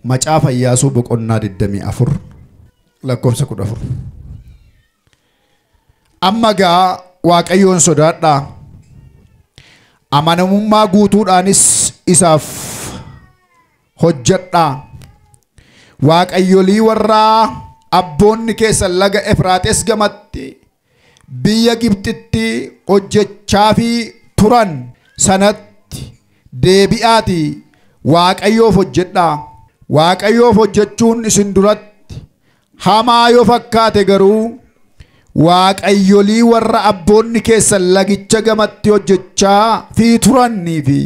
Macaafa Iyaasuu boqonnaa 24 lakkoofsa 14. Amma egaa Waaqayyoon sodaadhaa, amanamummaa guutuudhaanis isaaf hojjedhaa. Waaqayyolii warraa abboonni keessan laga Efraaxes gamatti biyya Gibxitti hojjechaafii turan sanatti deebi'aatii Waaqayyoof hojjedhaa. Waaqayyoof hojjechuun isin duratti hamaa yoo fakkaate garuu waaqayyolii warra abboonni keessan lagicha gamatti hojjechaa fi turanii fi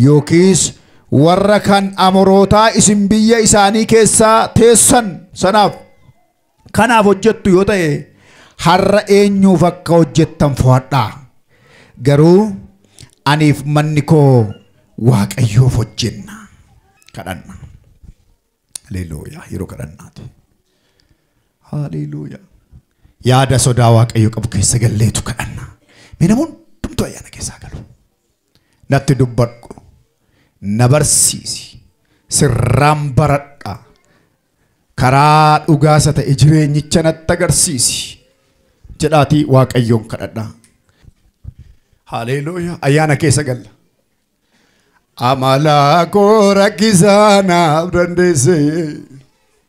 yookiis warra kan amorootaa isin biyya isaanii keessaa teessan sanaaf Kanaaf hojjettu yoo ta'e har'a eenyuuf akka hojjettan fo'adhaa. Garuu aniif manni koo waaqayyoof hojjenna. Kadhanna. Haleeluuyaa yeroo kadhannaati. Haleeluuyaa. Yaada sodaa waaqayyo qabu keessa galleetu kadhanna. Mee namoonni hundumtuu ayyaana keessaa galu. Natti dubbadhu, na barsiisi, sirraan baradha, karaa dhugaa isa ta'e jireenyicha natti agarsiisi jedhaatii Waaqayyoon kadhadhaa. Haleeluuyaa ayyaana keessa galla. Amala koo rakkisaa naaf dandeesse.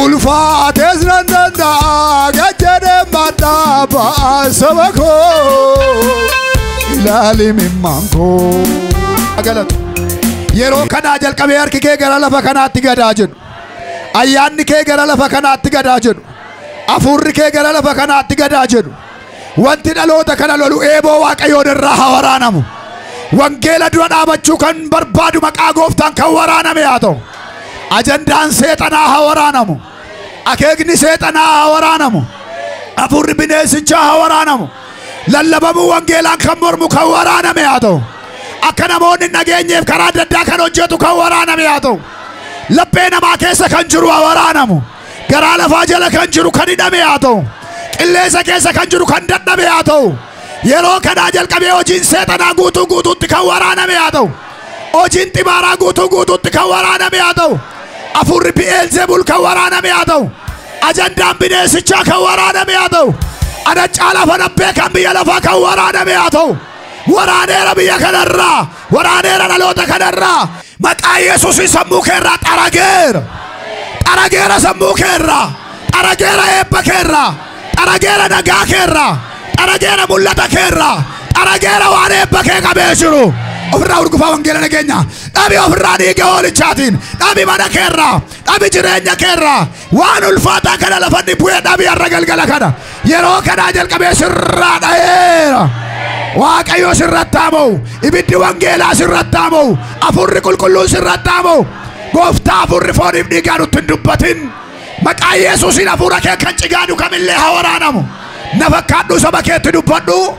Ulfaatees nan danda'a gajjadee maddaa ba'a saba koo ilaali mimmaan koo. Agalatu. Yeroo kanaa jalqabee harki kee gara lafa kanaatti gadaa jedhu. Ayyaanni kee gara lafa kanaatti gadaa jedhu. Afuurri kee gara lafa kanaatti gadaa jedhu. Wanti dhaloota kana lolu eeboo Waaqayyoon irraa haa waraanamu. Wangeela dura dhaabachuu kan barbaadu maqaa gooftaan kan waraaname haa ta'u. Ajandaan seexanaa haa waraanamu. Akeekni seexanaa haa waraanamu. Hafuurri bineensichaa haa waraanamu. Lallabamuu wangeelaan kan mormu kan waraaname haa ta'u. Akka namoonni hin dhageenyeef karaa adda addaa kan hojjetu kan waraaname haa ta'u. Laphee namaa keessa kan jiru haa waraanamu. garaa lafaa jala kan jiru kan hidhame haa ta'u qilleensa keessa kan jiru kan dadhabe haa ta'u yeroo kanaa jalqabee hojiin seexanaa guutuu guutuutti kan waraaname haa ta'u hojiin xibaaraa guutuu guutuutti kan waraaname haa ta'u afuurri bi'eelzebul kan waraaname haa ta'u ajandaan bineensichaa kan waraaname haa ta'u ana caalaa fanabbee kan biyya lafaa kan waraaname haa ta'u waraaneera biyya kanarraa Waraaneera dhaloota kanarraa. Maqaa Yesuusiin sammuu keerraa xarageera. Xarageera sammuu keerraa. Xarageera eebba keerraa. Xarageera nagaa keerraa. Xarageera mul'ata keerraa. Xarageera waan eebba kee qabee jiru. Ofirraa urgufaa wangeela nageenya. Dhabi ofirraa dhiiga hoolichaatiin. Dhabi mana keerraa. Dhabi jireenya keerraa. Waan ulfaataa kana lafanni bu'ee dhabii har'a galgala kana yeroo kanaa jalqabee sirraa dha'eera. Waaqayyo sirratti haa mo'u. Ibiddi wangeelaa sirratti haa mo'u. Afuurri qulqulluun sirratti haa mo'u. Gooftaa afuurri fooniif dhiigaa nutti hin dubbatin. Maqaa Yesuusiin afuura kee kan cigaadu kamillee haa waraanamu. Na fakkaadhu saba keetti dubbadhu.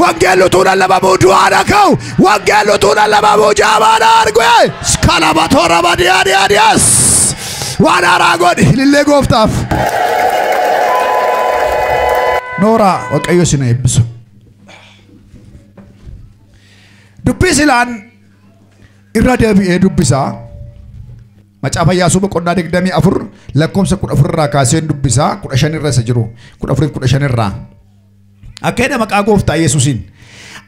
Wangeelli utuu lallabamuu du'aa na ka'u. Wangeelli utuu lallabamuu jaamaa na argue. Skalaba toora badiyaa diyaa diyaas. Waan haaraa godhi ilillee gooftaaf. Nooraa Waaqayyo isin haa eebbisu. Dubbii silaan irra deebi'ee dubbisaa. Macaafa Yaasuu boqonnaa 24 lakkoofsa 14 irraa kaaseen dubbisaa 15 irra isa jiru 14 15 irraa. Akka jedha maqaa gooftaa Yesuusiin.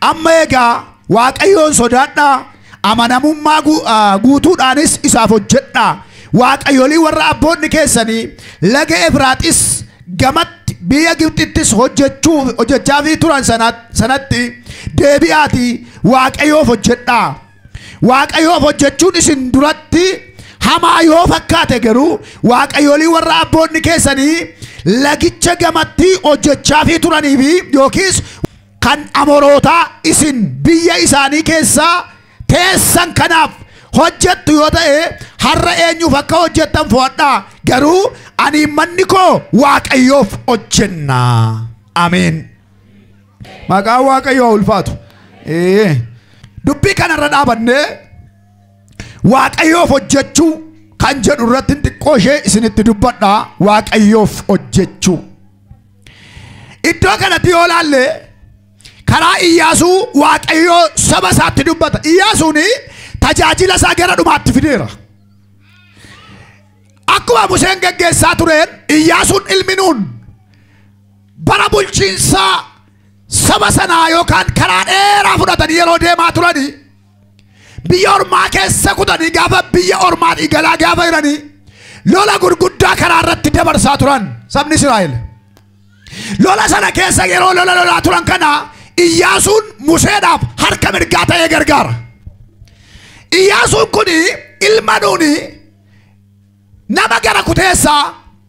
Amma egaa Waaqayyoon sodaadhaa amanamummaa gu- ah, guutuudhaanis isaaf hojjedhaa. Waaqayyolii warra abboonni keessanii laga Efraaxis gamatti biyya Gibxittis hojjechuu hojjechaafii turan sana- sanatti deebi'aatii Waaqayyoof hojjedhaa. Waaqayyoof hojjechuun isin duratti hamaa yoo fakkaate garuu waaqayyoolii warra abboonni keessanii lagicha gamatti hojjechaafii turanii fi yookiis kan amorootaa isin biyya isaanii keessaa teessan kanaaf hojjettu yoo ta'e har'a eenyuuf akka hojjettan fo'adhaa garuu ani manni koo waaqayyoof hojjenna ameen. Maqaan Waaqayyoo haa ulfaatu. Ee, Dubbii kanarra dhaabannee Waaqayyoof hojjechuu kan jedhu irratti xiqqoo ishee isinitti dubbadha. Waaqayyoof hojjechuu. Iddoo kanatti yoo laalle karaa Iyyaasuu Waaqayyoo saba isaatti dubbata. Iyyaasuun tajaajila isaa gara dhumaatti fideera. Akkuma Museen geggeessaa tureen Iyyaasuun ilmi nuun bara bulchiinsaa saba sanaa yookaan karaa dheeraa fudhatanii yeroo deemaa turanii biyya ormaa keessa kutanii gaafa biyya ormaa dhiigalaa gaafa jiranii lola gurguddaa karaa irratti dabarsaa turan sabni Israa'el. Lola sana keessa yeroo lola lolaa turan kana Iyyaasuun Museedhaaf harka mirgaa ta'ee gargaara. Iyyaasuun kun ilma nuuni nama gara kuteessaa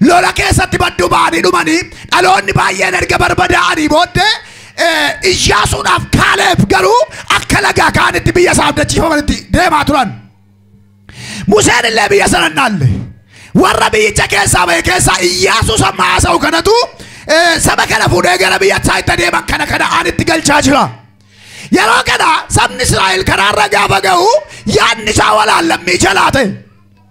Lola keessatti badduu ba'anii dhumanii dhaloonni baay'een erga barbadaa'anii booddee eh, Iyyaasuudhaaf Kaaleeb garuu akka lagaa kaanitti biyya isaa abdachiifamanitti deemaa turan. Museen illee biyya sana hin dhaalle. Warra biyyicha keessaa ba'e keessaa Iyyaasuus amma haasa'u kanatu eh, saba kana fuudhee gara biyya isaa itti adeeman kana kana aanitti galchaa jira. Yeroo kana sabni Israa'el karaarra gaafa ga'u yaadni isaa walaallammicha laate.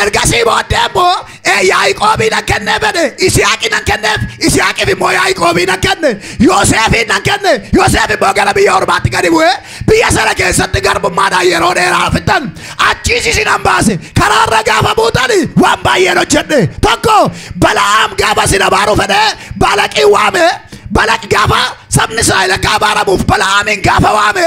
Ergasii booddee immoo ee Yaaqoobii nan kennee fedhe Isihaaqii nan kenneef Isihaaqiif immoo Yaaqoobii nan kenne Yooseefiin nan kenne Yooseef immoo gara biyya ormaatti gadi bu'ee biyya sana keessatti garbummaadhaan yeroo dheeraa fixan achiis isin an baase karaarra gaafa buutani waan baay'een hojjedhe tokko bala'aam gaafa isin abaaruu fedhee balaqii waame balaq gaafa sabni Israa'el akka abaaramuuf bala'aamiin gaafa waame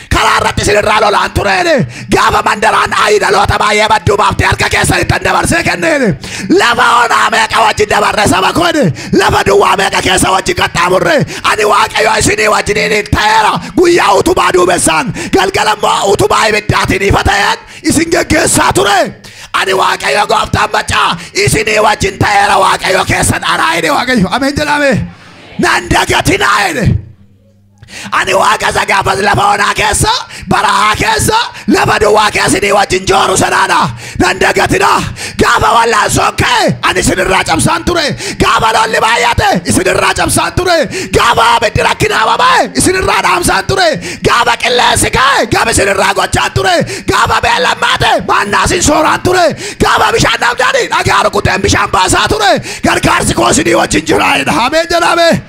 karaa irratti isinirraa lolaan tureene gaafa mandaraan ayii dhaloota baay'ee badduu baaftee harka keessanittan dabarsee kenneene lafa onaa meeqa wajjin dabarre saba koone lafa duwwaa meeqa keessa wajjin qaxxaamurre ani waaqayyo isinii wajjiniin ta'eera guyyaa utubaa duumessaan galgala immoo utubaa ibiddaatiin ifa ta'een isin geggeessaa ture ani waaqayyo gooftaan macaa isinii wajjin ta'eera waaqayyo keessan anaa jedhe waaqayyo ameen jedhame nan dagatinaa jedhe Ani waaqa isa gaafas lafa onaa keessa, barahaa keessa, lafa duwwaa keessa isinii wajjin jooru sanaadha. Nan dagatina. Gaafa wallaansoon ka'e ani isinirraa cabsaan ture. Gaafa lolli baay'ate isinirraa cabsaan ture. Gaafa abiddi rakkinaa baba'e isinirraa dhaamsaan ture. Gaafa qilleensi ka'e gab isinirraa gochaan ture. Gaafa beellammaa ta'e maannaa isin sooraan ture. Gaafa bishaan dhabdanii dhagaa rukuteen bishaan baasaa ture. Gargaarsi koo isinii wajjin jiraa'edha. Ameen jedhame.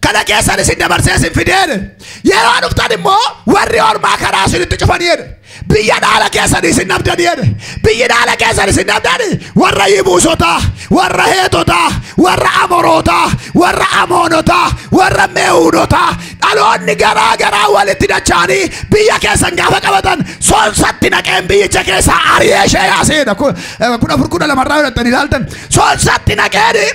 kana keessan isin dabarsee isin fideen yeroo dhuftan immoo warri ormaa karaa isinitti cufanii jedhe biyya dhaala keessan isin dhabdanii jedhe biyyi dhaala keessan isin dhabdani warra yibuusotaa warra heetotaa warra amorootaa warra amoonotaa warra meewuunotaa dhaloonni garaa garaa walitti dachaanii biyya keessan gaafa qabatan soonsatti naqeen biyyicha keessaa ari'ee ishee yaasee jedha kudha afur kudha lamarraa yoo dhaqxan ilaaltan soonsatti naqeen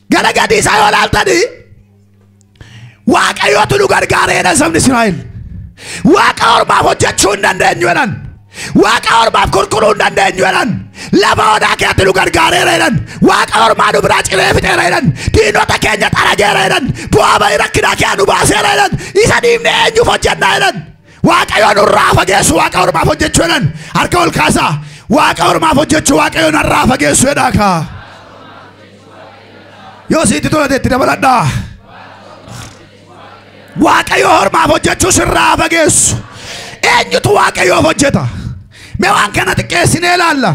Gara gadii isaa yoo ilaaltanii waaqayyootu nu gargaara jedhan sabni Israa'el. Waaqa ormaaf hojjechuu hin dandeenyu jedhan. Waaqa ormaaf kurkuruu hin dandeenyu jedhan. Lafa onaa keetti nu gargaareera jedhan. Waaqa ormaa nu biraa ciree fixeera jedhan. Diinota keenya xarageera jedhan. Bu'aa ba'ii rakkinaa keenya nu baaseera jedhan. Isa dhiifnee eenyuuf hojjennaa jedhan. Waaqayyoon nurraa fageessu waaqa ormaaf hojjechuu jedhan. Harka ol kaasaa. Waaqa ormaaf hojjechuu waaqayyoon narraa fageessu jedhaa kaa. Yoo sitti tola ta'e itti dabaladhaa. Waaqayyo hormaaf hojjechuu sirraa fageessu. Eenyutu waaqayyoof hojjeta? Mee waan kana xiqqeessinee ilaalla.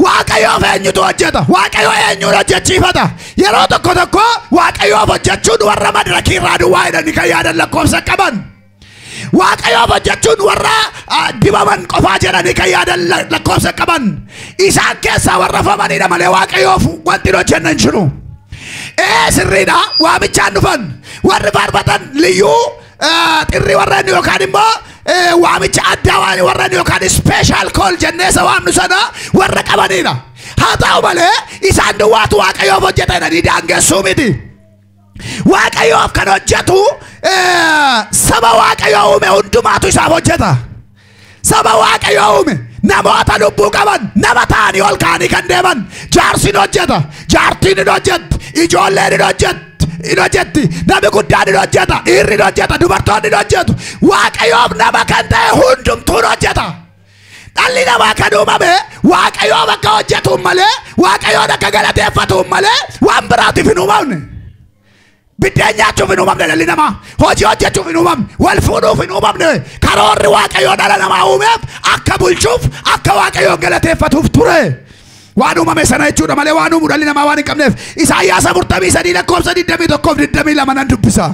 Waaqayyoof eenyutu hojjeta? Waaqayyo eenyuun hojjechiifata? Yeroo tokko tokko waaqayyoof hojjechuun warra madirakii irraa duwwaa jedhanii kan yaadan lakkoofsa qaban. Waaqayyoof hojjechuun warra ah, dibaman qofaa jedhanii kan yaadan la- lakkoofsa qaban isaan keessaa warra famanidha malee waaqayyoof wanti hin hojjenne hin jiru. Ee sirriidha waamichaan dhufan warri faarfatan liyyuu ah, xirri warreen yookaan immoo eh, waamicha addaa waan warreen yookaan special call jennee isa waamnu sana warra qabanidha. Haa ta'u malee isaan duwwaatu waaqayyoof hojjeta jedhanii daangeessuu miti. Waaqayyoof kan hojjetu eh, saba Waaqayyoo uume hundumaatu isaaf hojjeta. Saba Waaqayyoo uume namoota lubbuu qaban nama ta'anii ol ka'anii kan deeman jaarsiin hojjeta, jaartiin hin hojjetti, ijoolleen hin hojjetti. hin hojjetti namni guddaan hin hojjeta dhiirri hin hojjeta dubartoonni hin hojjetu waaqayyoof nama kan ta'e hundumtuu hin hojjeta Dhalli namaa kan uumame waaqayyoo bakka hojjetuun malee waaqayyoon akka galateeffatuun malee waan biraatiif hin uumamne. Biddeen nyaachuuf hin uumamne dhalli namaa. Hojii hojjechuuf hin uumamne. Wal fuudhuuf hin uumamne. Karoorri waaqayyoo dhala namaa uumeef akka bulchuuf akka waaqayyoon galateeffatuuf ture. Waan uumame sana jechuudha malee waan uumu dhalli namaa waan hin qabneef. Isaayyaasa 43 lakkoofsa 21 fi 22 nan dubbisa.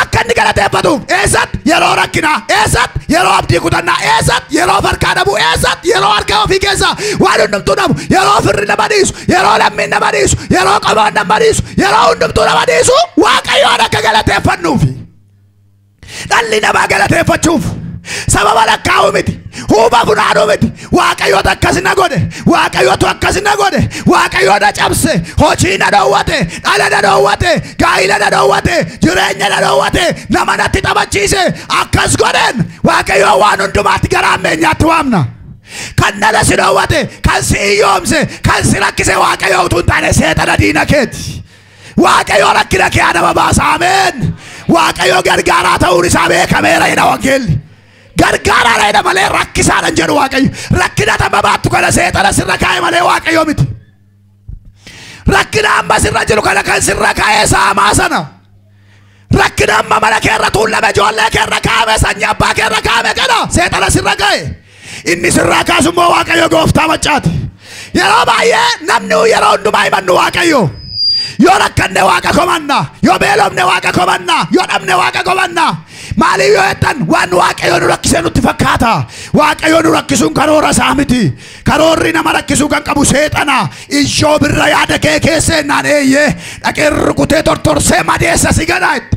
Akka inni galateeffatuuf eessatti yeroo rakkinaa eessatti yeroo abdii kutannaa eessatti yeroo farkaa dhabuu eessatti yeroo harka ofii keessaa waan hundumtuu dhabu yeroo firri nama dhiisu yeroo lammiin nama dhiisu yeroo qomoon nama dhiisu yeroo hundumtuu nama dhiisu waaqayyoon akka galateeffannuufi. Dhalli namaa galateeffachuuf sababa lakkaa'uu miti huuba funaanuu miti waaqayyotu akkas na godhe waaqayyotu akkas na godhe waaqayyoo na cabse hojii na dhoowwate dhala na dhoowwate gaa'ila na dhoowwate jireenya na dhoowwate nama natti taphachiise akkas godheen waaqayyoo waan hundumaatti gara ammeenyaatti waamna kan dhala si dhoowwate kan si hiyyoomse kan si rakkise waaqayyoo utuu hin taane seexana diina keeti waaqayyoo rakkina kee adaba baasa ameen waaqayyoo gargaaraa ta'uun isaa beekameera jedha wangeelli Gargaaraadha jedha malee rakkisaadha hin jedhu Waaqayyo. Rakkina tamma baattu kana seexana sirra kaa'e malee Waaqayyo miti. Rakkina amma sirra jiru kana kan sirra kaa'e saamaa sana. Rakkina amma mana keerra tuullame ijoollee keerra kaa'ame sanyii abbaa keerra kaa'ame kana seexana sirra kaa'e. Inni sirraa kaasu immoo Waaqayyo gooftaa maccaati. Yeroo baay'ee namni yeroo hundumaa himannu waaqayyo. Yoo rakkanne waaqa komanna, yoo beelofne waaqa komanna, yoo dhabne waaqa komanna. Maaliif yoo jettan waan waaqayyo nu rakkisee nutti fakkaata. Waaqayyo nu rakkisuun karoora isaa miti. Karoorri nama rakkisuu kan qabu seexana. Iyyoob irra yaada kee keessa ennaan eeyyee dhaqee rukutee tortorsee madeessa si gadaatti.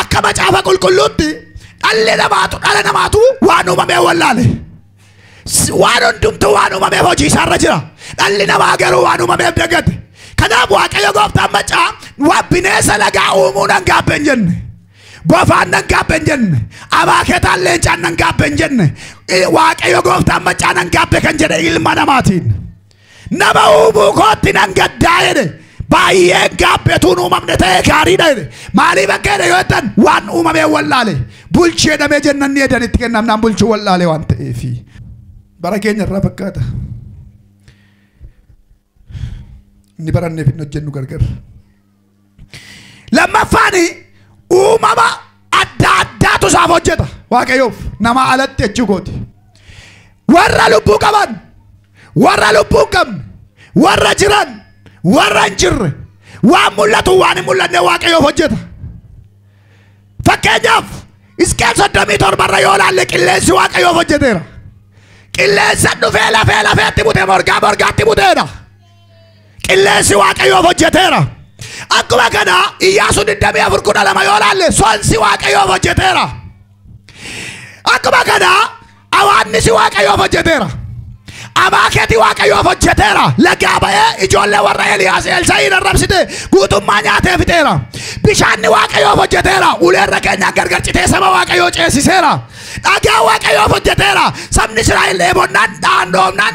Akka macaafa qulqulluutti dhalli namaatu dhala namaatu waan uumamee wallaale. S- Waan hundumtuu waan uumameef hojii isaarra jira. Dhalli namaa garuu waan uumameef dagate. Kanaaf Waaqayyo gooftaan macaa waan bineensa lagaa uumuu nan gaabbe hin jenne. Bofaan nan gaabbe hin jenne. Abaaketaan leencaan nan gaabbe hin jenne. I- Waaqayyo gooftaan macaa nan gaabbe kan jedhe ilma namaatiin. Nama uumuu kootti nan gaddaa jedhe. Baay'een gaabbetuun uumamne ta'ee gaariidha jedhe. Maaliif akka jedhe yoo jettan waan uumamee wallaale. Bulchi jedhamee jennan ni edan itti kennamnaan bulchuu wallaale waan ta'eefi. Bara keenya irraa fakkaata. Inni baranneef hin hojjennu gargar. Lammaffaan uumama adda addaatu isaaf hojjeta. Waaqayyoof namaa alatti jechuu kooti. Warra lubbuu qaban, warra lubbuu hin qabne, warra jiran, warra hin jirre, waan mul'atu waan hin mul'anne waaqayyoof hojjeta. Fakkeenyaaf Hisqeel soddomii torba irra yoo ilaalle qilleensi waaqayyoof hojjeteera. Qilleensa dhufee lafee lafeetti bute morgaa morgaatti buteedha. Qilleensi waaqayyoof hojjeteera. Akkuma kana Iyyaasuu 24:12 yoo laalle sonsi waaqayyoof hojjeteera. Akkuma kana awaannisi waaqayyoof hojjeteera. Amaakeeti waaqayyoof hojjeteera. Lagaa ba'ee ijoollee warra Eliyaas Elsaa'iin arrabsite guutummaa nyaatee fixeera. Bishaanni waaqayyoof hojjeteera. Uleerra keenyaan gargar citee saba waaqayyoo ceesiseera. Dhagaa waaqayyoof hojjeteera. Sabni Israa'el dheebonnaan dhaan dhoofnaan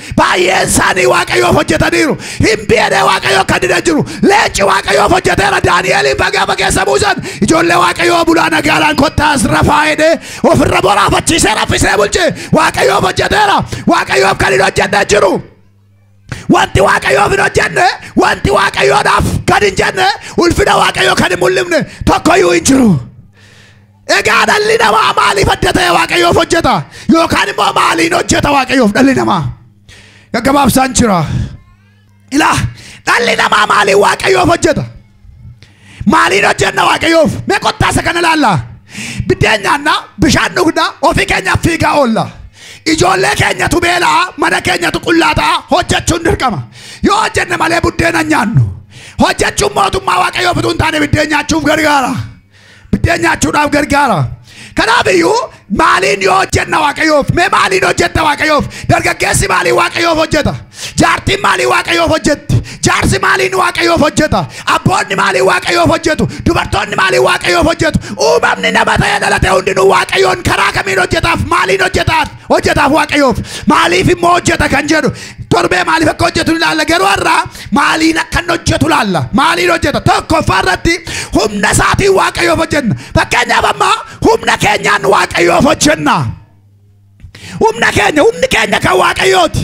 Baay'een isaanii waaqayyoof hojjetaniiru. Hin beekne waaqayyoo kan dida jiru. Leenci waaqayyoof hojjeteera. Daani'eeliin bagaa fageessa buusan. Ijoollee waaqayyoo bulaa nagaadhaan kottaas rafaa jedhee ofirra boraafachiisee raffisee bulche. Waaqayyoof hojjeteera. Waaqayyoof kan hin hojjenne jiru. Wanti waaqayyoof hin hojjenne, wanti waaqayyoodhaaf kan hin jenne, ulfina waaqayyoo kan hin mul'ifne tokkoyyuu hin jiru. Egaa dhalli namaa maaliif adda ta'e waaqayyoof hojjeta? Yookaan immoo maaliin hojjeta waaqayyoof dhalli namaa? Gaggabaabsaan jira. Ilaa dhalli namaa maaliin waaqayyoof hojjeta? Maaliin hojjenna waaqayyoof? Mee kottaa isa kana ilaalla. Biddeen nyaanna, bishaan dhugna, ofii keenyaaf fiigaa oolla. Ijoollee keenyatu beela'a, mana keenyatu qullaa ta'a, hojjechuun dirqama. Yoo hojjenne malee buddeena hin nyaannu. Hojjechuun mootummaa waaqayyoof utuu hin taane biddeen nyaachuuf gargaara. Biddeen nyaachuudhaaf gargaara. Kanaaf iyyuu maaliin yoo hojjenna waaqayyoof? Mee maaliin hojjetta waaqayyoof? Dargaggeessi maaliin waaqayyoof hojjeta? Jaartiin maaliin waaqayyoof hojjetti? Jaarsi maaliin waaqayyoof hojjeta? Abboonni maaliin waaqayyoof hojjetu? Dubartoonni maaliin waaqayyoof hojjetu? Uumamni nama ta'ee dhalate hundinuu waaqayyoon karaa kamiin hojjetaaf? Maaliin hojjetaaf? hojjetaaf waaqayyoof maaliif immoo hojjeta kan jedhu torbee maaliif akka hojjetu ilaalla garuu har'aa maaliin akka inni hojjetu ilaalla maaliin hojjeta tokkoffaa irratti humna isaatiin waaqayyoof hojjenna fakkeenyaaf amma humna keenyaan waaqayyoof hojjenna humna keenya humni keenya kan waaqayyooti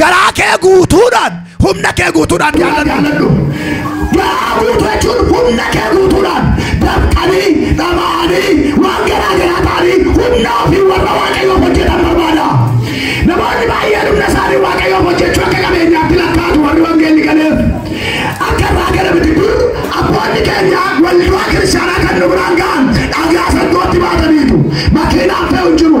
Garaa kee guutuudhaan humna kee guutuudhaan jaalladhu. Garaa guutuu jechuun humna kee guutuudhaan dafqanii, dhama'anii, waan garaa garaa ta'anii humna ofii warra Waaqayyoof hojjetan barbaada. Namoonni baay'een humna isaanii Waaqayyoof hojjechuu akka qabeenyaatti lakkaa'atu warri wangeelli galeef. Akka irraa gala miti dur abboonni keenya waldaa kiristaanaa kan nu biraan ga'an dhagaa sangooti baataniitu. Makiinaan fe'u hin jiru.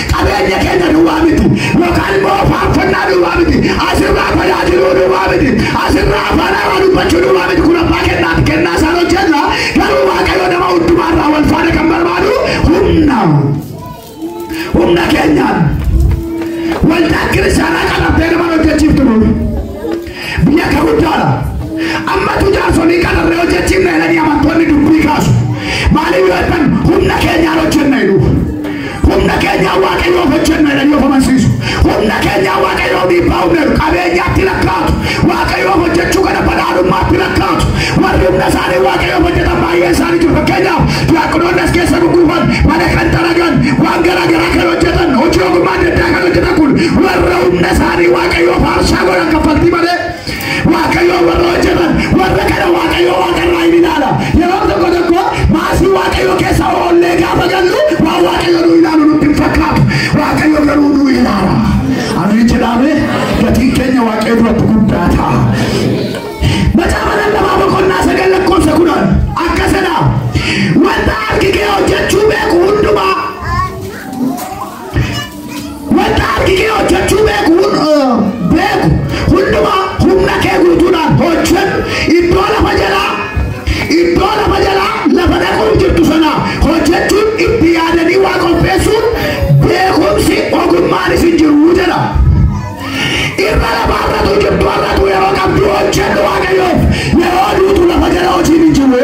qabeenya keenya duwwaa miti yookaan immoo faarfannaa duwwaa miti asirraa tajaajiluu duwwaa miti asirraa afaan haaraa dubbachuu duwwaa miti kun abbaa kennaati kennaa isaan hojjenna garuu waaqayyo nama hundumaarraa wal faana kan barbaadu humna humna keenyaan waldaan kiristaanaa qabattee nama hojjechiiftu nuuf Biyya akka guddaadha. Ammatu jaarsonii qararree hojjechiifna jedhanii amantoonni dubbii kaasu. Maaliif yoo jedhan humna keenyaan hojjenna jedhu. Humna keenyaan waaqayyoof hojjenna jedhanii of amansiisu. Humna keenyaan waaqayyoof dhiibbaa humna jedhu. Qabeenyaatti lakkaa'atu. Waaqayyoof hojjechuu kana badhaadhummaatti lakkaa'atu. Warri humna isaanii waaqayyoof hojjetan baay'ee isaanii jiru. Fakkeenyaaf diyaaqonoonni as keessa gugguufan, mana kan xaragan, waan garaa garaa kan hojjetan, hojii ogummaa adda addaa kan hojjetan kun warra humna isaanii waaqayyoof Waaqayyoof aarsaa godhan kaffaltii malee Waaqayyoo warra hojjetan warra kana Waaqayyoo waaqarraa hin ilaala. Yeroo tokko tokko maasii Waaqayyoo keessa oollee gaafa gallu waan Waaqayyoo nu ilaalu nutti hin fakkaatu. Waaqayyoo garuu nu ilaala. Ameen jedhaame gatiin keenya Waaqayyoo duratti guddaa ta'a. Macaafa lallabaa boqonnaa sagal lakkoofsa kudhan akkasidha. Wanta harki kee hojjechuu beeku hundumaa Wanta harki kee hojjechuu beeku hun- eh, beeku hundumaa humna kee guutuudhaan hojjedhu. Iddoo lafa jalaa iddoo lafa jalaa lafa dhaquuf jirtu sana hojjechuun itti yaadanii waa qopheessuun beekumsi ogummaan isin jiru jedha. Irra lafaarratu jirtu har'atu yeroo qabdu hojjedhu waaqayyoof yeroo duutu lafa jala hojiin hin jiru.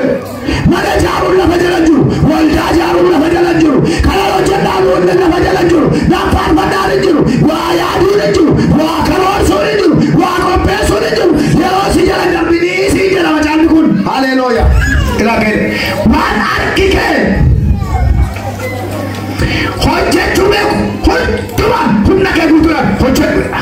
Mana ijaaruun lafa jala hin jiru. Waldaa ijaaruun lafa jala hin jiru. Kanan hojjedhaan hundi lafa jala hin jiru. Naffaarfannaan hin jiru. Waa yaaduun hin jiru. Waa karoorsuun hin jiru. Waa qopheessuun hin jiru. Yeroo si jala hin darbinii siin jedha macaafni kun. Haleelooya. Ilaa kee. Waan harki kee hojjechuu beeku hundumaan humna kee guutuudhaan hojjedhu jedha.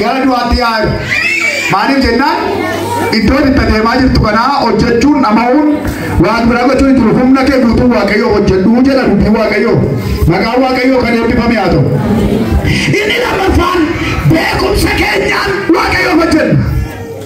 Gara du'aatti yaa jiru. Maaliif jennaan iddoo itti adeemaa jirtu kanaa hojjechuun dhama'uun waan biraa gochuun jiru humna kee guutuu waaqayyoo hojjedhu jedha dubbii waaqayyoo. Maqaan waaqayyoo kan eebbifame haa ta'u. Inni lammaffaan beekumsa keenyaan waaqayyoo hojjenna.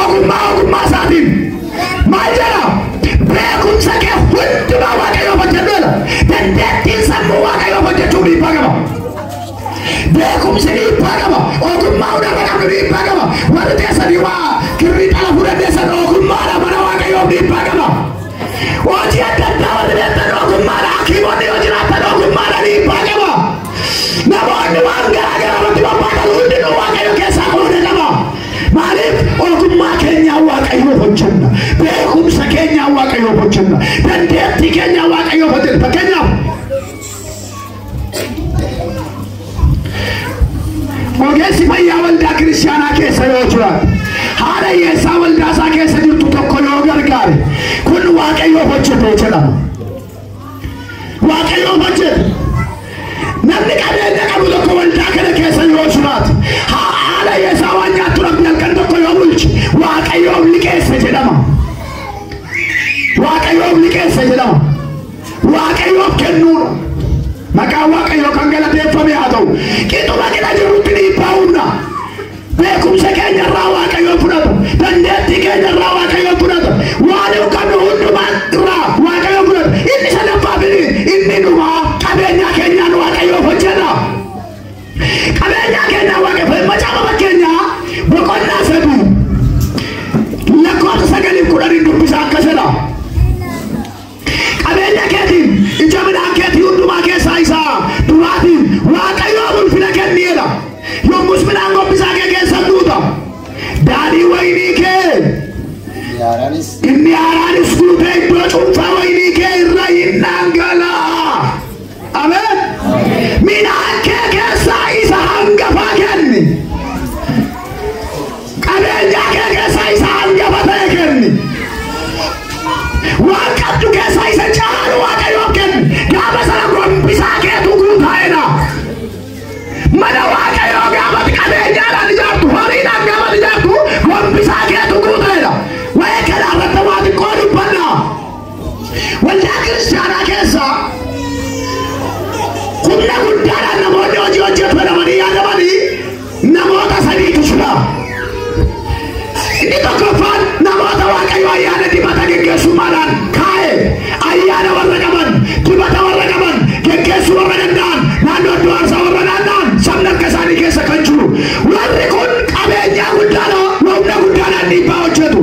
Ogummaa ogummaa isaatiin maal jedha? Beekumsa kee hundumaa Waaqayyoof hojjedhu jedha. Dandeettiin sammuu Waaqayyoof hojjechuu dhiibbaa qaba. Beekumsi dhiibbaa qaba. Ogummaa hundarra qabnu dhiibbaa qaba. Warri teessanii waa kirrii xalafuu dandeessan ogummaadha mana Waaqayyoof dhiibbaa qaba. Hojii adda addaa warri beektan ogummaadha. Hakiimonni yoo jiraatan ogummaadha dhiibbaa qaba. Namoonni waan garaa garaa irratti bobba'an hundinuu Waaqayyo keessaa qooda qaba. Maaliif ogummaa keenyaa waaqayyoof hojjenna. Beekumsa keenyaa waaqayyoof hojjenna. Dandeettii keenyaa waaqayyoof hojjenna. Fakkeenyaaf ogeessi fayyaa waldaa kiristaanaa keessa yoo jiraate haala hiyyeessaa waldaa isaa keessa jirtu tokko yoo gargaare kun waaqayyoof hojjete jedhama. Waaqayyoo maal jedhe? Namni qabeenya qabu tokko waldaa kana keessa yoo jiraate haala isaa waan nyaattu rabbi halkan tokko yoo bulche waaqayyoof liqeesse jedhama. Waaqayyoof liqeesse jedhama. Waaqayyoof kennuudha. Maqaan waaqayyoo kan galateeffame haa ta'u. Qixuma qina jirutti dhiibbaa humna. Beekumsa keenya irraa Waaqayyoon fudhatu. Dandeettii keenya irraa Waaqayyoon fudhatu. Waan hin qabnu hundumaa irraa Waaqayyoon fudhatu. Inni sadaffaa fi inni dhumaa qabeenyaa keenyaan Waaqayyoof hojjenna. Qabeenyaa keenyaa Waaqayyoof macaafa fakkeenyaa boqonnaa sadii lakkoofsa sagaliif kudhaniin dubbisa akkas jedha. Qabeenya keetiin, ija midhaan keetii hundumaa keessaa isa duraatiin Waaqayyoof ulfina kenni jedha. Yommus midhaan gombisaa kee keessa in guuta. Daadhii wayinii kee Inni haaraanis inni haaraanis guutee iddoo cuunfaa wayinii kee irra in dhangala'a. Ameen. Midhaan kee keessaa isa hangafaa kenni. Qabeenyaa kee keessaa isa hangafa ta'e kenni. Waan qabdu keessaa isa caalu waaqayyoof kenni. Gaafa sana gombisaa keetu guutaa'edha. Mana waaqayyoo gaafa qabeenyaadhaan ijaartu, horiidhaan gaafa ijaartu, gombisaa keetu guutaa'edha. Waa'ee kanaa irratti waa xiqqoo dubbannaa. Waldaa kiristaanaa keessaa humna guddaadhaan namoonni hojii hojjetamanii yaadamanii namoota sadiitu fila. Inni tokkoffaan namoota Waaqayyo ayyaana dibata geggeessummaadhaan kaa'e ayyaana warra qaban, dibata warra qaban, geggeessuu warra danda'an, naannoo iddoo aarsaa warra naanna'an sabni akka isaanii keessa kan jiru. Warri kun qabeenyaa guddaadha, humna guddaadhaan dhiibbaa hojjetu.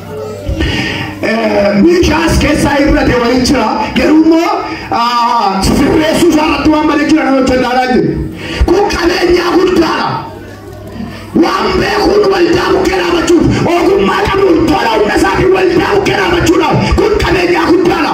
Miishaas keessaa irrate waliin jira. Garuu immoo sirreessuu isaa irratti waan malee jira nama hojjetaa jiru. Kun qabeenyaa guddaadha. Waan beekuun waldaa bukkee dhaabachuuf ogummaa qabuun tola humna isaatiin waldaa bukkee dhaabachuudhaaf kun qabeenyaa guddaadha.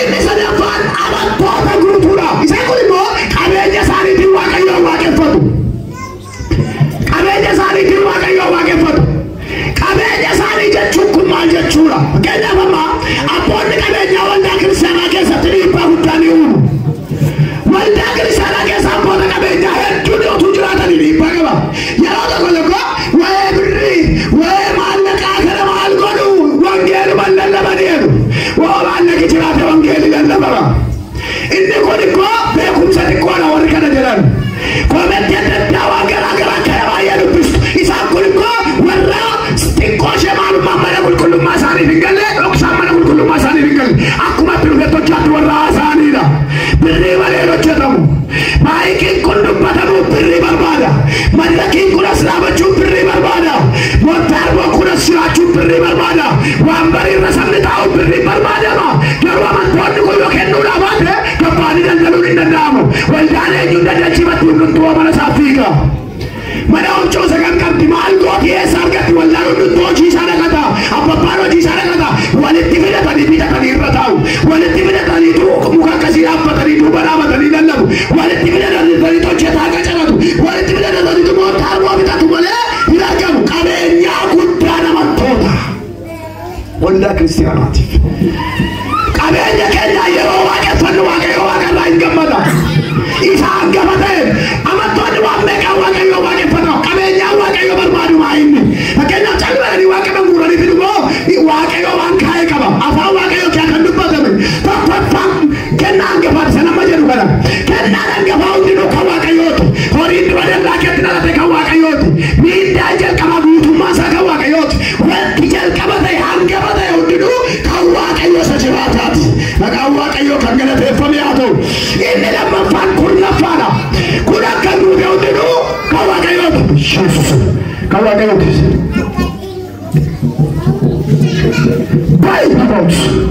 Inni sadaffaan amantoota guutuudha. Isaan kun immoo qabeenya isaaniitiin Waaqayyoon waaqeffatu. Qabeenya isaaniitiin Waaqayyoon waaqeffatu. Qabeenya isaanii jechuun kun maal jechuudha? Fakkeenyaaf amma abboonni qabeenyaa waldaa kiristaanaa keessatti dhiibbaa guddaa ni uumu. Waldaa kiristaanaa keessa abboota qabeenyaa hedduun yoo utuu jiraatanii dhiibbaa qaba. Yeroo tokko tokko Waa'ee birrii, waa'ee maallaqaa kana maal godhu? Wangeeluman lallabanii jedhu. Woo maallaqi jiraate wangeelli lallabama. Inni kun immoo beekumsa xiqqoodha warri kana jedhan. Koomentii adda addaa waan garaa garaa kana baay'ee dubbistu. Isaan kun immoo warra xiqqoo ishee maalummaan mana qulqullummaa isaaniif hin galle dhoksaan mana qulqullummaa isaaniif hin galle. Akkuma itti dhufetti hojjaatti warra haasa'aniidha. Birrii malee hin hojjetamu. Maayikiin kun dubbatamuuf birrii barbaada. Mallakiin kun as dhaabachuuf birrii barbaada. Montaarboo kun as jiraachuuf birrii barbaada. Waanbarii irra sabni taa'uuf birriin barbaadama. Garuu amantoonni kun yoo kennuudhaa baate gabbaanii daldaluun hin danda'amu. Waldaan eenyuun daldalchiifatti hundumtuu mana isaaf fiiga. Mana omchoo sagan qabdi maal gooti eessa argatti wallaan hunduttuu hojii isaa dhaqata abbabbaan hojii isaa dhaqata walitti fidatanii bitatanii irra taa'u walitti fidatanii tuu muka akkasii dhaabbatanii duuba dhaabatanii lallabu walitti fidatanii hojjetaa qacaratu walitti fidatanii moo taarmoo bitatu malee hin argamu qabeenyaa guddaa namattoota. Waldaa kiristiyaanaatiif. Qabeenya keenyaa yeroo waaqeffannu waaqayyo waaqa irraa hin gammada. Isa hangafa ta'e amantoonni waan meeqaa waaqayyo waaqeffata. Qabeenyaa waaqayyo barbaadu maa inni. Fakkeenyaaf calmadanii waaqa kan guuranii fidu moo waaqayyo waan kaa'e qaba. Afaan waaqayyo kee kan dubbatame tokkoffaa kennaa hangafaati sana amma jedhu kana. Kennaan hangafaa hundinuu kan waaqayyooti. Horiin dura dallaa keetti dhalate kan waaqayyooti. Miindaan jalqabaa guutummaa isaa kan waaqayyooti. Wanti jalqaba ta'e hangafa ta'e hundinuu kan Waaqayyo isa jiraataati. Maqaan Waaqayyoo kan galateeffame haa ta'u. Inni lammaffaan kurnaffaadha. Kun akka duute hundinuu kan Waaqayyooti. Yesuus kan Waaqayyooti. Baay'ee baay'ee.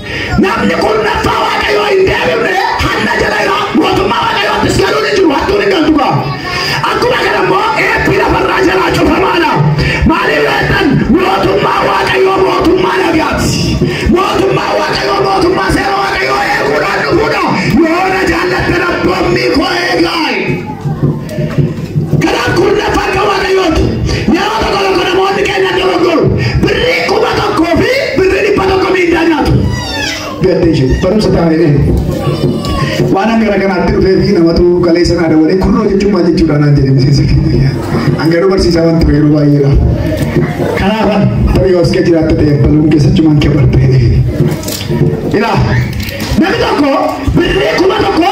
Namni kurnaffaa Waaqayyoo hin deebifne hanna jala jira, mootummaa Waaqayyoottis galuun hin jiru, hattuun hin galtu gaa. Akkuma kana immoo eebbi lafarraa jalaa cufamaadha. Maaliif yoo jettan mootummaa Waaqayyoo mootummaa nagaati. Mootummaa Waaqayyoo mootummaa seera Waaqayyoo eeguudhaan dhufuudha. Yoo na jaallattan abboommii koo eegaa. Garaan kurna farka Waaqayyooti. Yeroo tokko tokko namoonni keenya dogoggoru. Birrii kuma tokkoo fi birrii dhibba tokko miindaa nyaatu. Gaddee jiru. Barumsa taa'ee waan hanga gara kanaatti dhufee fi namatu galee sanaa dabalee kurnoo jechuun maal jechuudha naan jedhe miseensa keenya. Hanga nu barsiisaa waan ture yeroo baay'eedha. Kanaaf tarii yoo iska jiraatta ta'e bal'uun keessachumaan kee bartee. Ilaa namni tokko birrii kuma tokko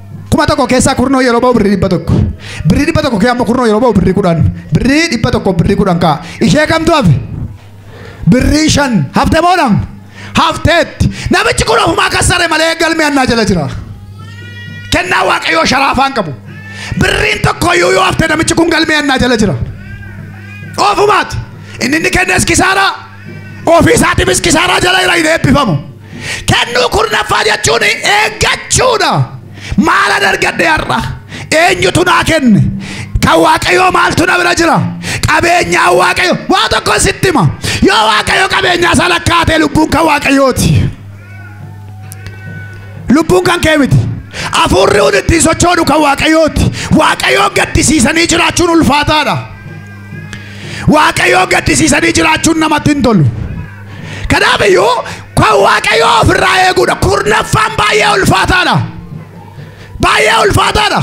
kuma tokko keessaa kurnoo yeroo ba'u birrii dhibba tokko birrii dhibba tokko keessaa immoo kurnoo yeroo ba'u birrii kudhan birrii dhibba tokko birrii kudhan ka'a ishee kamtu hafe birrii shan hafte moo dhabne hafteetti namichi kun ofumaa kassare malee galmee annaa jala jira kennaa waaqayyoo sharaafaan qabu birriin tokko iyyuu yoo hafte namichi kun galmee annaa jala jira ofumaati inni inni kennes kisaaraa ofii isaatiifis kisaaraa jala jira hin eebbifamu Kennuu kurnaffaa jechuun eeggachuudha. Maalan argadhe har'a? Eenyutu naa kenne? Kan Waaqayyoo maaltu na bira jira? Qabeenyaa Waaqayyo waa tokko sitti hima. Yoo Waaqayyo qabeenyaa isaa lakkaa'ate lubbuun kan Waaqayyooti. Lubbuun kan kee miti. Hafuurri kun ittiin sochoonu kan Waaqayyooti. Waaqayyoon gaddisiisanii jiraachuun ulfaataadha. Waaqayyoo gaddisiisanii jiraachuun namatti hin tolu. Kanaaf iyyuu kan Waaqayyoo ofirraa eeguudha. Kurnaffaan baay'ee ulfaataadha. Baay'ee ulfaataadha.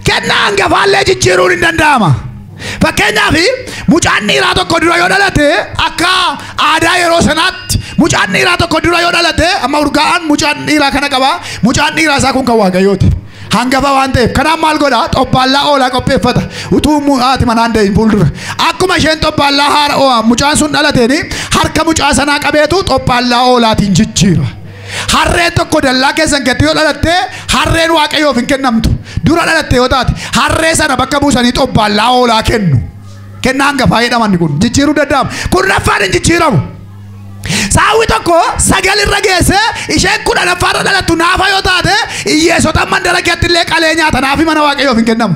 Kennaa hangafaallee jijjiiruun hin danda'ama. Fakkeenyaaf mucaan dhiiraa tokko dura yoo dhalate akka aadaa yeroo sanaatti mucaan dhiiraa tokko dura yoo dhalate amma urgaa'aan mucaan dhiiraa kana qaba mucaan dhiiraa isaa kun kan waaqayyooti. Hangafa waan ta'eef kanaaf maal godha xobbaallaa hoolaa qopheeffata utuu mu- haati manaan da'in fuuldura akkuma isheen xobbaallaa haara oo- mucaan sun dhalateen harka mucaa sanaa qabeetu xobbaallaa hoolaatiin jijjiira. Harreen tokko dallaa keessan gatti yoo dhalatte harreen waaqayyoof hin kennamtu dura dhalatte yoo taate harree sana bakka buusanii xobbaallaa hoolaa kennu. Kennaa hangafaa jedhaman kun jijjiiruu danda'ama kun raffaan hin jijjiiramu. Saawwi tokko sagal irra geesse isheen kudhanaffaa irra dhalattu naafa yoo taate hiyyeessota mandara keetti illee qalee nyaata naafi mana waaqayyoof hin kennamu.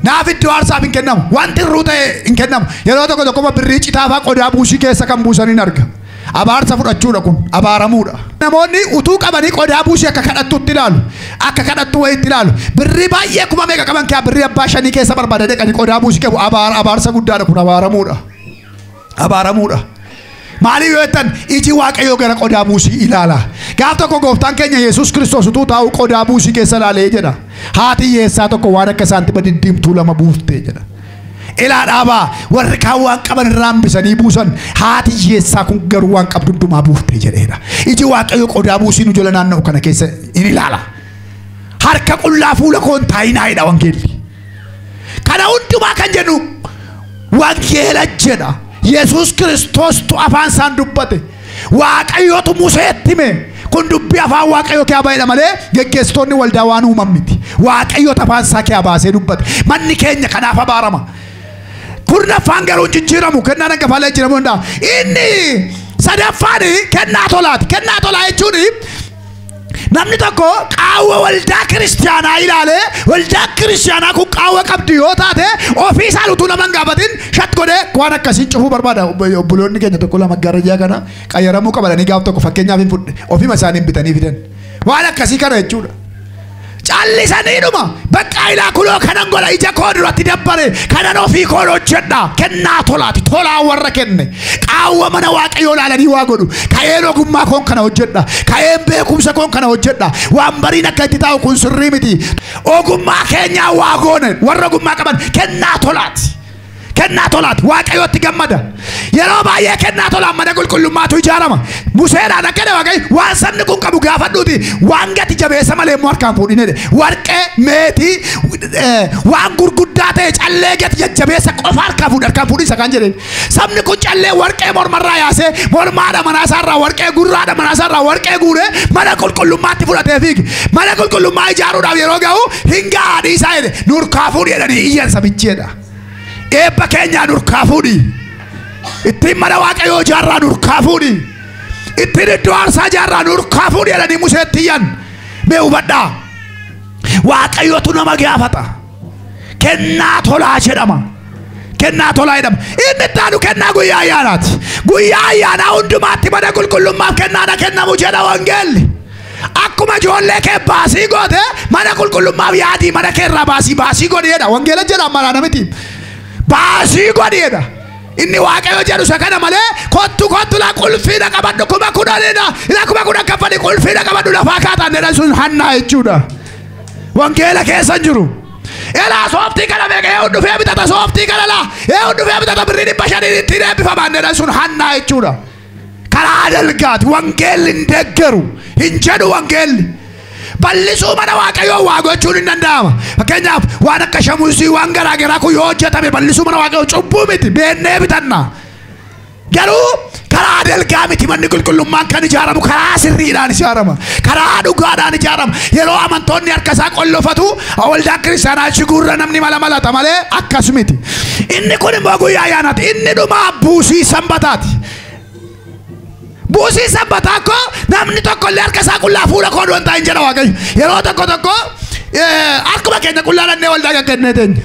Naaf iddoo aarsaaf hin kennamu. Wanti irruu ta'e hin kennamu. Yeroo tokko tokko birrii citaafaa qodaa buusii keessa kan buusan hin arga. Abaarsa fudhachuudha kun abaaramuudha. Namoonni utuu qabanii qodaa buusii akka kadhattuutti ilaalu. Akka kadhattuu wayiitti ilaalu. Birrii baay'ee kuma meeqa qaban kee birrii abbaa shanii keessa barbaada deqanii qodaa buusii qabu abaara abaarsa guddaadha kun abaaramuudha. abaaramuudha. Maaliif yoo jettan iji waaqayyoo gara qodaa buusii ilaala. Gaaf tokko gooftaan keenya Yesuus Kiristoos utuu taa'u qodaa buusii keessa ilaalee jedha. Haati hiyyeessaa tokko waan akka saantima diddiimtuu lama buuftee jedha. Ilaa dhaabaa warri kaan waan qaban irraa hambisanii buusan haati hiyyeessaa kun garuu waan qabdu hundumaa buuftee jedheedha. Iji waaqayyoo qodaa buusii nu jala naanna'u kana keessa in ilaala. Harka qullaa fuula koo hin taa'inaa jedha wangeelli. Kana hundumaa kan jedhu wangeela jedha. Yesuus Kiristoostu afaan isaan dubbate. Waaqayyootu Museetti hime. Kun dubbii afaan Waaqayyoo kee ba'edha malee geggeessitoonni waldaa waan uuman miti. Waaqayyoota afaan isaa kee baasee dubbate. Manni keenya kanaaf abaarama. Kurnaffaan garuu hin jijjiiramu. Kennaan hangafaa illee jijjiiramuu danda'a. Inni sadaffaan kennaa tolaati. Kennaa tolaa jechuun Namni tokko qaawwa waldaa kiristaanaa ilaalee waldaa kiristaanaa kun qaawwa qabdi yoo taate ofii isaan utuu nama hin gaafatin shat godhee waan akkasii cufuu barbaada. Obbo- Obboloonni keenya tokko lama garajaa kana qayyaramuu qabatanii gaaf tokko fakkeenyaaf hin fudhe ofima isaaniin bitanii fidan. Waan akkasii kana jechuudha. callisaniidhuma baqqaa ilaa kunoo kanan godha ija koo duratti dabbare kanan ofii koon hojjedha kennaa tolaati tolaa warra kenne qaawwa mana waaqayyoo laalanii waa godhu ka'een ogummaa koon kana hojjedha ka'een beekumsa koon kana hojjedha waan bariin akka itti taa'u kun sirrii miti ogummaa keenyaa waa goone warra ogummaa qaban kennaa tolaati Kennaa tolaati. Waaqayyootti gammada. Yeroo baay'ee kennaa tolaan mana qulqullummaatu ijaarama. Museedhaan akkana waaqayyo waan sabni kun qabu gaafadhuuti waan gati jabeessa malee immoo harkaan fuudhin jedhe. Warqee, meetii, eh, waan gurguddaa ta'e callee gati jajjabeessa qofa harkaan fuudhi harkaan fuudhi isa kan jedhe. Sabni kun callee warqee mormarraa yaasee mormaadha manaasaarraa warqee gurraadha manaasaarraa warqee guuree mana qulqullummaatti fudhatee fiige. Mana qulqullummaa ijaaruudhaaf yeroo ga'u hin ga'a dhiisaa jedhe. Nurkaa fuudhi jedhanii iyyan sabichi jedha. eebba keenyaa nurkaa fuudhi ittiin mana waaqayyoo ijaarraa nurkaa fuudhi ittiin iddoo aarsaa ijaarraa nurkaa fuudhi jedhanii museetti iyyan mee hubadhaa waaqayyotu nama gaafata kennaa tolaa jedhama kennaa tolaa jedhama inni ittaanu kennaa guyyaa ayyaanaati guyyaa ayyaanaa hundumaatti mana qulqullummaaf kennaadha kennamu jedha wangeelli Akkuma ijoollee kee baasii goote mana qulqullummaaf yaadii mana kee irraa baasii baasii godhi jedha. Wangeela jedha ammaa namiti. Baasii godhi jedha. Inni waaqayyo jedhu isa kana malee kottu kottu la qulfiina qabadhu kuma kudhanidha. Ila kuma kudhan kaffali qulfiina qabadhu lafaa kaataan jedha sun hannaa jechuudha. Wangeela keessa hin jiru. Elaa sooftii kana meeqa yoo dhufee bitata sooftii kana laa yoo dhufee bitata birrii dhibba shanii ittiin eebbifamaan jedha sun hannaa jechuudha. Karaa dalgaati wangeelli hin deggeru hin jedhu wangeelli. Bal'isuu mana waaqayyoo waa gochuun hin danda'ama. Fakkeenyaaf waan akka shamuusii waan garaa garaa kun yoo hojjetame bal'isuu mana waaqayyoo cubbuu miti beennee bitanna. Garuu karaa dalgaa miti manni qulqullummaan kan ijaaramu karaa sirriidhaan ijaarama. Karaa dhugaadhaan ijaarama. Yeroo amantoonni harka isaa qollofatu waldaa kiristaanaa achi guurra namni mala malata malee akkas miti. Inni kun immoo guyyaa ayyaanaati. Inni dhumaa buusii sanbataati. Buusii sanbataa koo namni tokko illee harka isaa qullaa fuula koo du'an taa'in jedha Waaqayyo. Yeroo tokko tokko eh, harkuma keenya qullaa dhannee waldaa gaggannee teenya.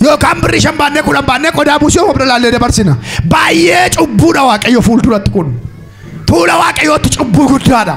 Yookaan birrii shan baannee kudhan baannee qodaa buusii of bira laallee dabarsina. Baay'ee cubbuudha Waaqayyo fuulduratti kun. Tuula Waaqayyootti cubbuu guddaadha.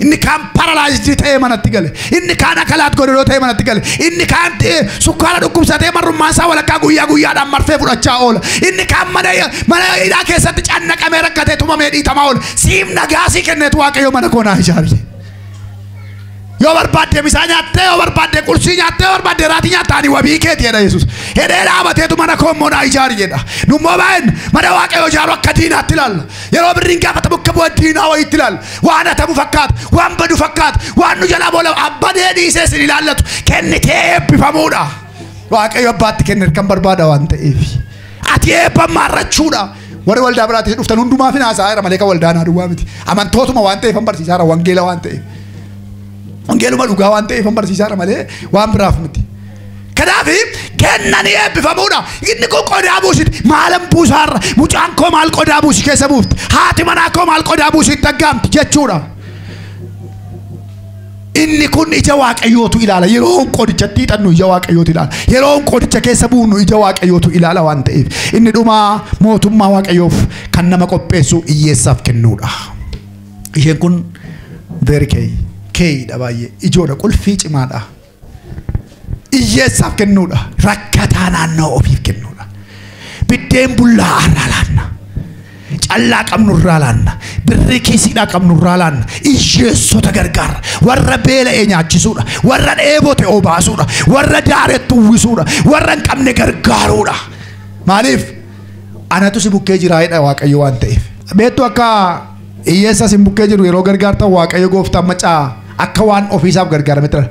Inni kaan paralaayizii ta'ee manatti gale. Inni kaan akalaat godhadoo ta'ee manatti gale. Inni kaan sukkaara dhukkubsatee marrummaan isaa walakkaa guyyaa guyyaadhaan marfee fudhachaa oola. Inni kaan mana mana hidhaa keessatti cannaqamee rakkatee tumamee dhiitamaa oola. Siif nagaa sii kenneetu waaqayyo mana koo naa ijaari. Yoo barbaadde misaa nyaattee, yoo barbaadde qursii nyaattee, yoo barbaadde raatii nyaattee ani wabii keeti jedha Yesuus. Hedhee dhaabateetu mana koo immoo naa ijaari jedha. Nummoo baay'een mana waaqayyo ijaaru akka diinaatti ilaalla. Yeroo birriin gaafatamu akka bu'a diinaa wayiitti ilaalla. Waan hatamu fakkaata, waan badu fakkaata, waan nu jalaa boola abbadee dhiisee isin ilaallatu kennitee eebbifamuudha. Waaqayyo abbaatti kenne kan barbaada waan ta'eef. Ati eebba maarrachuudha. Warri waldaa biraatti dhuftan hundumaaf hin haasa'aa malee kan waldaa naa duwwaa miti. Amantootuma waan ta'eef hin barsiisaa jira, wangeela waan ta'eef. Wangeeluma dhugaa waan ta'eef hin barsiisaa jira malee waan biraaf miti. Kanaaf kenna ni eebbifamuudha. Inni kun qodaa buusiti. Maalan buusaarra mucaan koo maal qodaa buusi keessa buufti. Haati manaa koo maal qodaa buusi itti aggaamti jechuudha. Inni kun ija waaqayyootu ilaala. Yeroo qodichatti hixannu ija waaqayyootu ilaala. Yeroo qodicha keessa buunu ija waaqayyootu ilaala waan ta'eef. Inni dhumaa mootummaa waaqayyoof kan nama qopheessu hiyyeessaaf kennuudha. Isheen kun very key. Keeyidha baay'ee. Ijoodha qulfii cimaadha. Iyyeessaaf kennuudha. Rakkataa naannoo ofiif kennuudha. Biddeen bullaa irraa laanna. Callaa qabnu irraa laanna. Birrii kiisiidhaa qabnu irraa laanna. Iyyeessota gargaarra. Warra beela'ee nyaachisuudha. Warra dheebote obaasuudha. Warra daaretti uwwisuudha. Warra hin qabne gargaaruudha. Maaliif? Anatu si bukkee jiraayedha Waaqayyo waan ta'eef. Beektu akka Hiyyeessa isin bukkee jiru yeroo gargaartan Waaqayyo gooftaan macaa akka waan ofiisaaf gargaarametti dha.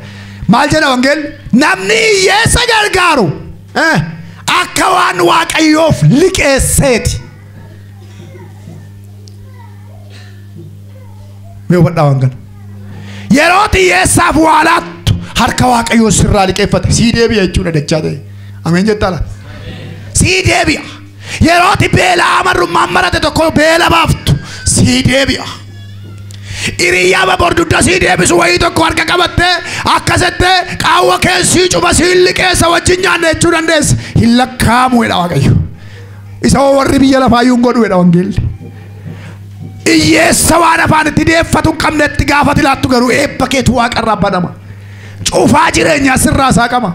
Maal jedha wangeelli? Namni hiyyeessa gargaaru eh, akka waan Waaqayyoof liqeesseeti. Mee hubadhaa waan kana. Yeroo hiyyeessaaf waa laattu harka Waaqayyoo sirraa liqeeffate sii deebi'a jechuudha dachaa ta'e. Ameen jettaa laata? Sii deebi'a. Yerooti beela'aa marrummaan marate tokko beela baaftu sii deebi'a. Hiriyaa baboor dugda sii deebisu wayii tokko harka qabatte akka sette qaawwa kee sii cuba sii liqeessa wajjin nyaanne jechuu dandeessa. Hin lakkaa'amu jedha Waaqayyo. Isa hoo warri biyya lafaa iyyuu hin godhu jedha wangeelli. Iyyeessa waan afaan itti deeffatu hin qabne itti gaafati laattu garuu eebba keetu waaqarraa banama. Cufaa jireenyaa sirraa saaqama.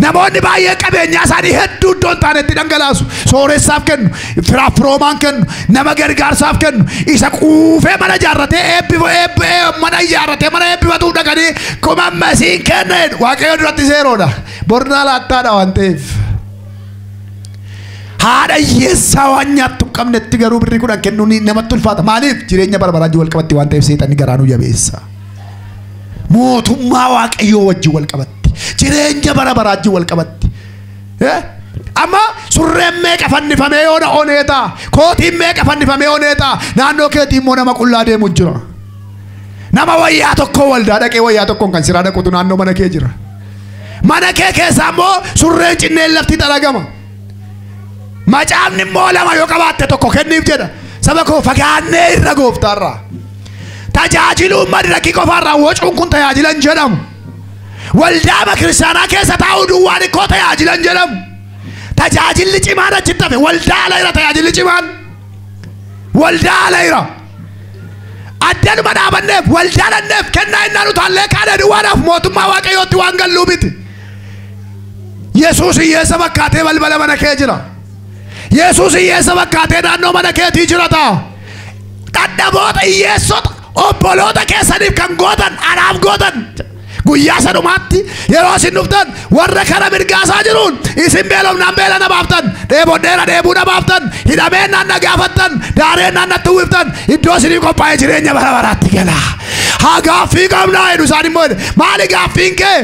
Namoonni baay'ee qabeenyaa isaanii hedduu iddoo hin taanetti dhangalaasu. Sooressaaf kennu, firaaf firoomaan kennu, nama gargaarsaaf kennu, isa quufee mana ijaarratee eebbifa eebbi ee- mana ijaarratee mana eebbifatuuf dhaqanii kuma masiin kenna jedhu. Waaqayyo duratti seeroodha. Bornaa laattaadha waan ta'eef. Haadha hiyyeessaa waan nyaattu hin qabnetti garuu birrii kudhan kennuun namatti ulfaata. Maaliif? Jireenya bara baraan wal qabatti waan ta'eef seexanni garaa nu jabeessa. mootummaa waaqayyoo wajjin wal qabatti jireenya bara baraa wajjin wal qabatti Eh? amma surreen meeqa fannifamee yoo na onee ta'a kootiin meeqa fannifamee onee ta'a naannoo keetii immoo nama qullaa deemu jira nama wayyaa tokko waldaa dhaqee wayyaa tokkoon kan siraa dhaqutu naannoo mana kee jira mana kee keessaa immoo surreen cinneen lafti xalagama macaafni immoo lama yoo qabaatte tokko kenniif jedha saba koo fagaannee irra gooftaarraa Tajaajiluun madrakii qofaarraan wacuun kun tajaajilan jedhamu. Waldaama kiristaanaa keessa taa'uu duwwaan ikkoo tajaajilan jedhamu. Tajaajilli cimaan achitti hafe waldaa ala jira tajaajilli cimaan. Waldaa ala jira. Addanuma dhaabanneef waldaa dhanneef kennaa innaan utaallee kaana duwwaadhaaf mootummaa waaqayyootti waan galluu miti. Yesuus hiyyeessa fakkaatee balbala mana kee jira. Yesuus hiyyeessa fakkaatee naannoo mana keetii jira ta'a. dadhaboota hiyyeessota obboloota keessaniif kan gootan anaaf gootan guyyaa sanumaatti yeroo isin dhuftan warra kara mirgaasaa jiruun isin beelofnaan beela na baaftan dheebodheera dheebuu na baaftan hidhameen naan na gaafattan daareen naan natti uwwiftan iddoo isinii qophaa'e jireenya bara baraatti gala haa gaaffii qabnaa jedhu isaan immoo maali gaaffiin kee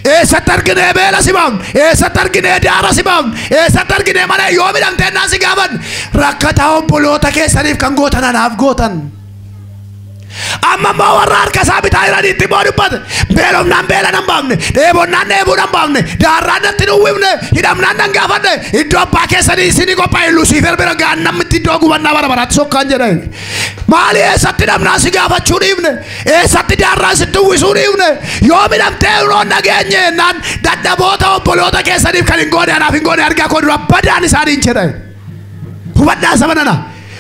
Eessatti arginee beela si baafne? Eessatti arginee daara si baafne? Eessatti arginee mana yoo midhamtee naa si gaafanne? Rakkataa obboloota keessaniif kan gootan anaaf gootan. Amma immoo warra harka isaa bitaa jiranitti immoo dubbate. Beelofnaan beela nan baafne, dheebonnaan dheebuu nan baafne, daarraan natti hin uwwifne, hidhamnaan nan gaafadhe. Iddoo abbaa keessanii isinii qophaa'e Lusiifer bira gaannammitti iddoo gubannaa bara baraatti sokkaan jedhe. Maali eessatti hidhamnaan si gaafachuu dhiifne? Eessatti jaarraa isin duwwisuu dhiifne yoo midhamtee hunoo nageenye jennaan dadhaboota obboloota keessaniif kan hin goone anaaf hin goone argaa koo dura badaan isaaniin jedha. Hubadhaa saba nana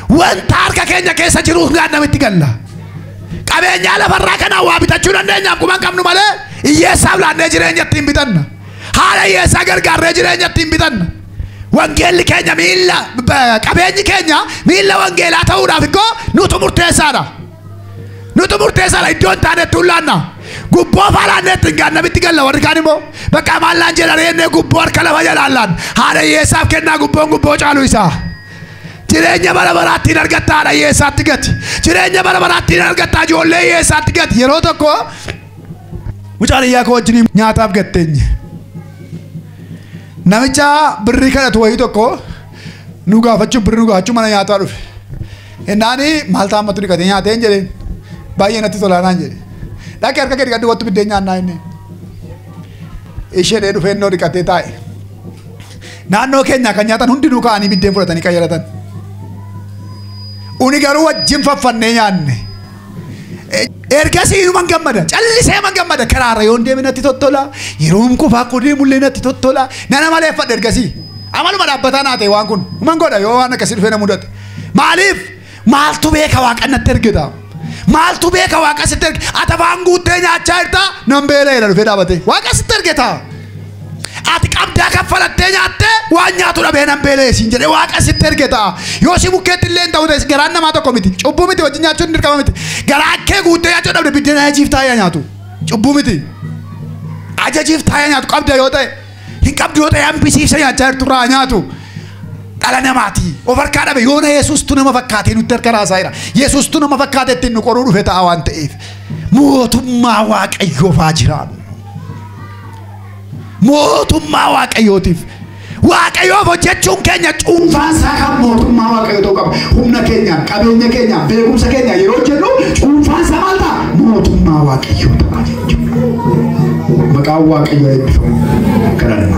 wanta harka keenya keessa jiruuf gaadhama itti galla. Qabeenyaa lafarraa kanaan waa bitachuu dandeenyaaf quban qabnu malee hiyyeessaaf laannee jireenya ittiin bitanna. Haala hiyyeessaa gargaarree jireenya ittiin bitanna. Wangeelli keenya miilla qabeenyi keenya miilla wangeelaa ta'uudhaaf ikkoo nutu murteessaadha. Nutu murteessaadha iddoo hin taanetti hin laanna. Gubboo faa laannee itti hin gaanna mitti galla warri kaan immoo bakka maal laan jedhan jennee gubboo harka lafa jalaan laan haadha hiyyeessaaf kennaa gubboon gubboo caalu isaa. Jireenya bara baraatti hin argatta haadha hiyyeessaatti gati. Jireenya bara baraatti hin argatta ijoollee hiyyeessaatti gati. Yeroo tokko mucaan iyyaa koo wajjin nyaataaf gatteenye. Namicha birrii kadhatu wayii tokko nu gaafachuu birrii nu gaafachuu mana nyaataa dhufe. Hennaan maal ta'an mattu dhiqatee nyaateen jedheen baay'ee natti tolaanaan jedhe dhaqee harka kee dhiqadhu wattu biddeen nyaannaa inni ishee dhee dhufee innoo dhiqatee taa'e naannoo keenyaa kan nyaatan hundinuu ka'anii biddeen fudhatanii qayyaratan uni garuu wajjin faffannee nyaanne ergasii inuman gammada callisee man gammada karaarra yoon deeme natti tottola yeroon kufaa koo deemullee natti tottola nana maleeffadha ergasii amaluma dhaabbataa naa ta'e waan kun man godha yoo waan akkasii dhufee na mudate Maaliif? Maaltu beeka waaqan natti ergita? Maaltu beeka waaqa sitti erge? Ati afaan guuttee nyaachaa jirta nan beela'eera dhufee dhaabatee. Waaqa sitti ergita. Ati qabdaa kaffalattee nyaattee waan nyaatu dhabee nan beela'e siin jedhee waaqa sitti ergita. Yoo si bukkeetti illee hin ta'u ta'es garaan namaa tokko miti. Cubbuu miti wajjin nyaachuun dirqama miti. Garaa kee guuttee nyaachuu dhabde biddeen ajajiif taa'ee nyaatu. Cubbuu miti. Ajajiif taa'ee nyaatu qabda yoo ta'e. hin qabdu yoo ta'e hambisiisee nyaachaa jirtu irraa haa nyaatu dhala namaati of harkaa dhabe yoona yesuustu nama fakkaatee nutti harka raasaa jira yesuustu nama fakkaatee ittiin nu qoruu dhufe ta'a waan ta'eef mootummaa waaqayyoof haa jiraannu mootummaa waaqayyootiif waaqayyoof hojjechuun keenya cuunfaa isaa kan mootummaa waaqayyoo ta'uu qaba humna keenya qabeenya keenya beekumsa keenya yeroo jennu cuunfaa isaa maal ta'a mootummaa waaqayyoo ta'a Maqaan Waaqayyoo eebbifamu. Kadhanna.